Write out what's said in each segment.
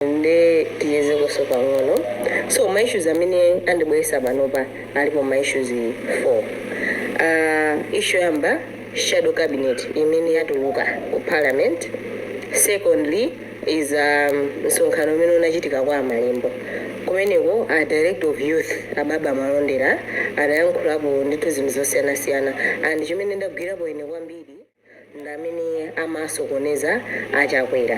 nde tichezekonso pang'ono so ma issues amene andibweretsa panopa alipo ma issues 4 uh, issue yoyamba shadow cabinet imene yatuluka ku parliament secondly is um, msonkhano umene unachitika kwa amalembo kumeneko a director of youth ababa malondera anayankhulapo ndithu zinthu zosiyanasiyana and chimene ndagwirapo ine kwambiri ndi amene amasokoneza a Chakwera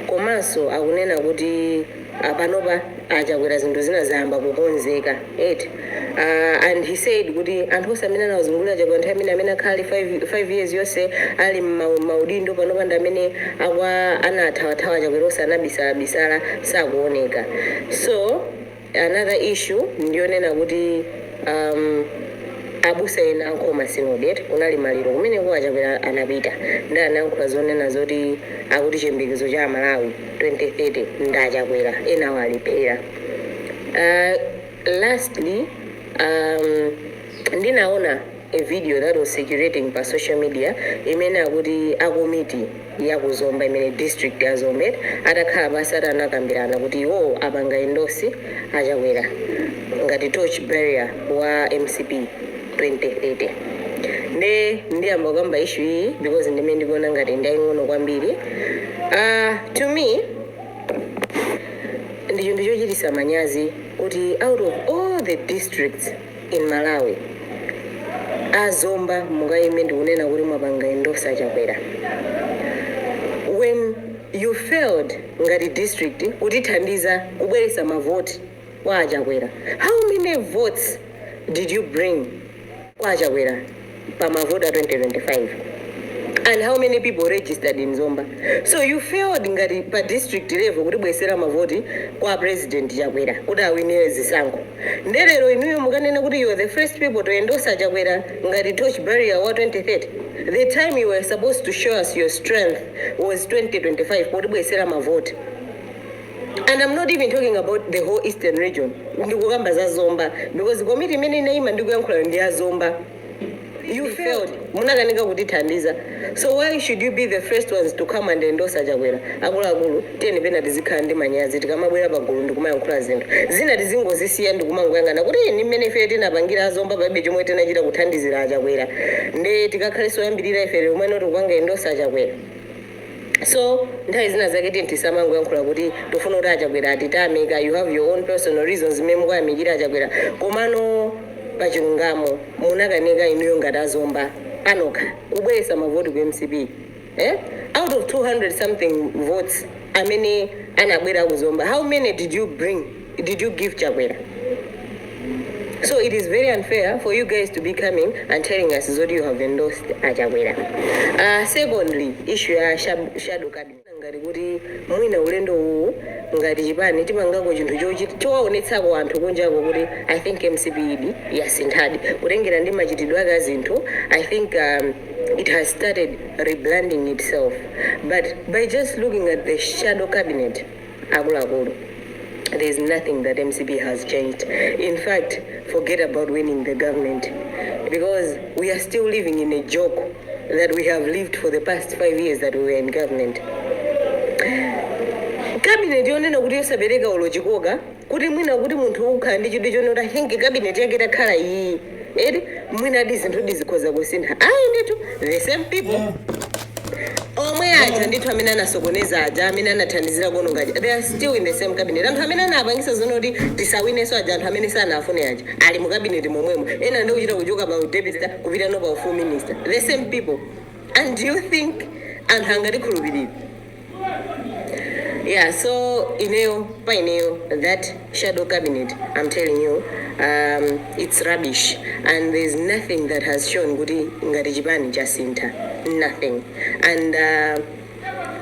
komanso akunena kuti ah, panopa a Chakwera zinthu zina zayamba kukonzeka eti Ah, and he said kuti anthu onse amene anawazungulira Chakwera nthawi imene amene akhala ali 5 years yonse ali m'ma- maudindo panopa ndi amene akwa anathawathawa a Chakwera onse anabisala bisala sakuoneka so Another issue ndiyonena kuti um abusa ena a Nkhoma synod eti kunali maliro kumeneko achakwera anapita ndi anayankhula zonena zoti akuti chiyembekezo cha amalawi 2030 ndi achakwera enawo alephera uh, lastly um ndinaona a video that was circulating pa social media imene akuti akomiti ya ku zomba imene district ya zomba atakhala pansi eti anakambirana kuti iwowo apanga endorse achakwera ngati torch bearer wa mcp 2030 nde ndiyamba kukamba issue iyi because ndimene ndikuona ngati ndiyaying'ono kwambiri uh, to me ndi chinthu chochitisa manyazi kuti out of all the districts in Malawi. A Zomba mukaime ndikunena kuti mwapanga endorse a Chakwera when you failed ngati district kutithandiza kubweresa ma vote kwa a Chakwera. How many votes did you bring kwa a Chakwera? pa mavoti a 2025 and how many people registered in Zomba so you failed ngati pa district level kutibwesera mavoti kwa president Chakwera kuti awinire zisankho nde lero inuyo mukanena kuti you are the first people to endorse Chakwera ngati torch bearer wa 2030 the time you were supposed to show us your strength was 2025 kutibwesera mavoti and am not even talking about the whole eastern region ndikukamba za zomba because komiti imene inayima ndikuyankhula ndi ya zomba you failed munakanika kutithandiza so why should you be the first ones to come and endorse achakwera akuluakulu tiyeni pena tizikhala ndi manyazi tikamabwera pagulu ndikumayankhula zinthu zina tizingozisiya ndikumangoyang'ana kuti "Ih, ni mmene ife tinapangira azomba palibe chomwe tinachita kuthandizira achakwera nde tikakhaleso oyambirira ife lero amene tikupanga endorse achakwera So nthawi zina zake tiyeni tisamangoyankhula kuti tikufuna kuti achakwera atitame you have your own personal reasons zimene mukuyamikira achakwera komano pachilungamo munakanika inuyo ngati azomba anokha kubweresa mavoti ku mcp eh? out of 200 something votes amene anabwera kuzomba how many did you bring did you give chakwera so it is very unfair for you guys to be coming and telling us zoti you have endorsed achakwera uh, secondly issue ya shab- shadow cabinet ngati kuti mwina ulendo uwu ngati chipani tipangako chinthu chochi- chowaonetsako anthu kunjako kuti i think mcp idi yasinthadi kutengera ndi machitidwe ake a zinthu i think um, it has started rebranding itself but by just looking at the shadow cabinet akuluakulu there is nothing that mcp has changed in fact forget about winning the government because we are still living in a joke that we have lived for the past five years that we were in government kabineti yonena kuti yosapereka ulochikoka kuti mwina kuti munthu ukhala ndi chidwi chonena kuti i think kabineti yake itakhala iyi eti mwinadi zinthudi zikhoza kusintha ayi ndithu the same people omwe aja ndithu amene anasokoneza aja amene anathandizira kuononga aja they are still in the same cabinet anthu amene anapangisa zonena kuti tisawineso aja anthu amene sanafune aja ali mu cabinet momwemo ena ndi kuchita kuchoka pa udeputy kupitano pa u-full minister the same people and do you think anthu angatikhulupirire yeah so ineyo pa ineyo that shadow cabinet i'm telling you um, it's rubbish and there's nothing that has shown kuti ngati chipani chasintha nothing and uh,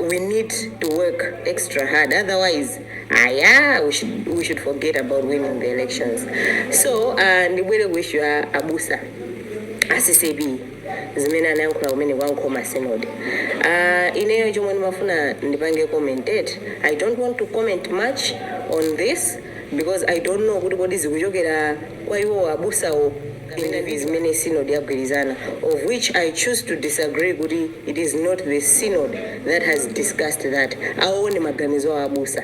we need to work extra hard otherwise ah yeah we should, we should forget about winning the elections so uh, ndibwere kuissue ya abusa a ccb zimene anayankhula kumeneko a nkhoma synod uh, ineyo chomwe ndimafuna ndipange comment i don't want to comment much on this because i don't know kuti kodi zikuchokera kwa iwo abusawo kapena ndi zimene synod yagwirizana of which i choose to disagree kuti it is not the synod that has discussed that awo ndi maganizo awo abusa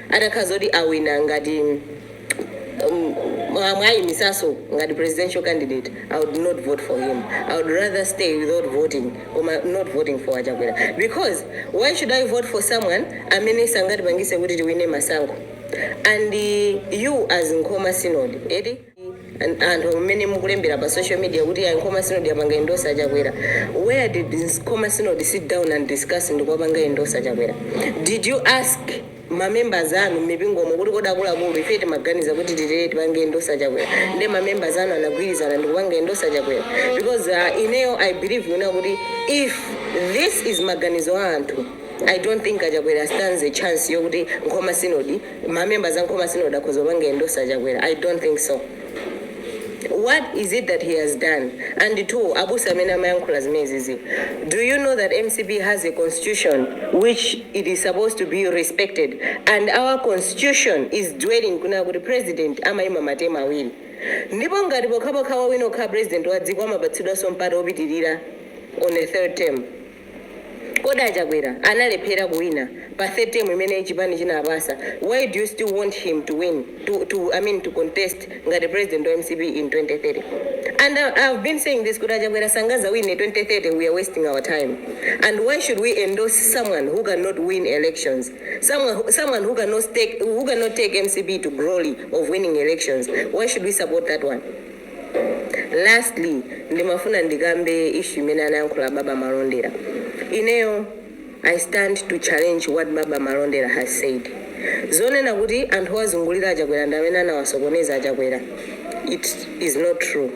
atakhala zoti awina ngati mwawayimisaso ngati presidential candidate i would not vote for him i would rather stay without voting koma not voting for achakwera because why should i vote for someone amene sangatipangise kuti tiwine masankho and uh, you as nkhoma synod eti An- anthu mmene mukulembera pa social media kuti ayi nkhoma sinodi yapanga endorse achakwera where did this nkhoma sinodi sit down and discuss ndikuwapanga endorse achakwera did you ask mamembers anu mmipingomo kuti kodi akuluakulu ife timaganiza kuti titere tipange endorse achakwera nde mamembers anu anagwirizana ndikupanga endorse achakwera because uh, ineyo i believe yonena kuti if this is maganizo a anthu i don't think achakwera stands a chance yokuti nkhoma sinodi ma members a Nkhoma Synod akhoza kupanga endorse a Chakwera? I don't think so. What is it that he has done? And two, abusa amene amayankhula zimenezizi, do you know that mcp has a constitution which it is supposed to be respected and our constitution is telling kunena kuti president amayima matemu awiri ndipo ngati pokhapokha wawina ukhala president wa dziko amapatsidwanso mpata wopitirira on a third term. Kodi a Chakwera analephera kuwina pa third term imene chipani chinawapasa, why do you still want him to win to to I mean to contest ngati president wa mcp in 2030 and I have been saying this kuti a Chakwera sangazawine 2030 we are wasting our time and why should we endorse someone who cannot win elections someone someone who cannot stake who cannot take mcp to glory of winning elections why should we support that one. Lastly ndimafuna ndikambe issue imene anayankhula Baba Malondera. Ineyo I stand to challenge what Baba Malondera has said. Zonena kuti anthu owazungulira a Chakwera ndi amene anawasokoneza a Chakwera it is not true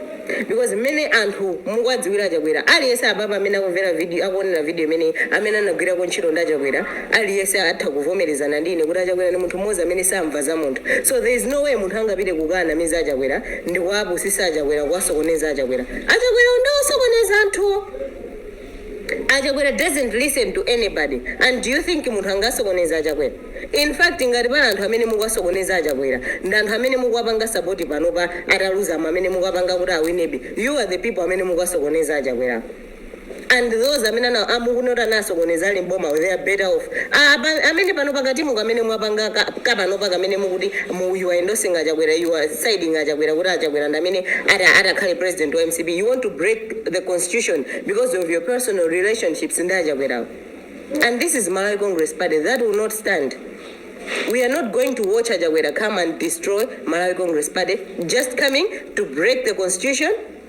because mmene anthu mukuwadziwira a Chakwera aliyense apapa amene akumvera akuonera video imeneyi amene anagwirako ntchito ndi a Chakwera aliyense atha kuvomerezana ndi ine kuti a Chakwera ndi munthu mmodzi amene samva za munthu so there is no way munthu angapite kukaanamiza a Chakwera Ndikuwapusisa achakwera kuwasokoneza achakwera achakwerawo nde osokoneza anthuwo achakwera doesn't listen to anybody and do you think munthu angasokoneze achakwera in fact ngati pali anthu amene mukuwasokoneza achakwera ndi anthu amene mukuwapanga support panopa ataluzamo amene mukuwapanga kuti awinebe you are the people amene mukuwasokoneza achakwerawo. and those amene ana amukuona kuti anasokoneza ali mboma they are better off Ah, apa- amene pano pakatimu kamene mwapanga ka- kapanopa kamene mukuti you are endorsing achakwera you are siding achakwera kuti achakwera ndi amene ata- atakhale president wa mcp you want to break the constitution because of your personal relationships ndi achakwerawo and this is malawi congress party that will not stand We are not going to watch achakwera come and destroy Malawi Congress Party, just coming to break the constitution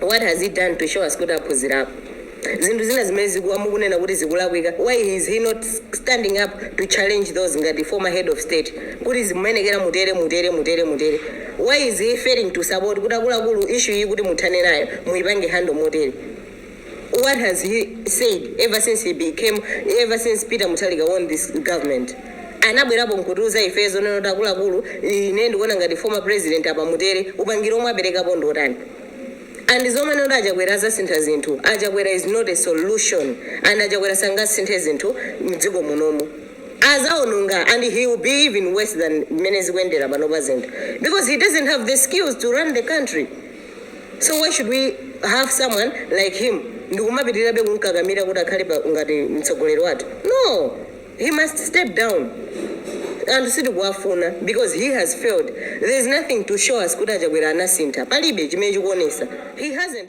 what has he done to show us kuti aphuzirapo zinthu zina zimene zikuwa mukunena kuti zikulakwika why is he not standing up to challenge those ngati former head of state kuti zimenezi mukuyenera mutere mutere mutere mutere why is he failing to support kuti akuluakulu issue iyi kuti muthane nayo muyipange handle motere What has he said ever since he became, ever since Peter Mutharika won this government? Anabwerapo nkutiuza ife zonena kuti akuluakulu ine ndikuona ngati former president apa mutere upangiri omwe aperekapo ndi otani? And zomanena kuti achakwera azasintha zinthu. Achakwera is not a solution. And achakwera sangasinthe zinthu mdziko munomu. Azaononga and he will be even worse than mmene zikuendera panopa zinthu. Because he doesn't have the skills to run the country. so why should we have someone like him ndikumapitirirabe kumkakamira kuti akhale pa- ngati mtsogoleri wathu no he must step down anthu sitikuwafuna because he has failed there is nothing to show us kuti achakwera anasintha palibe chimene chikuonesa he hasn't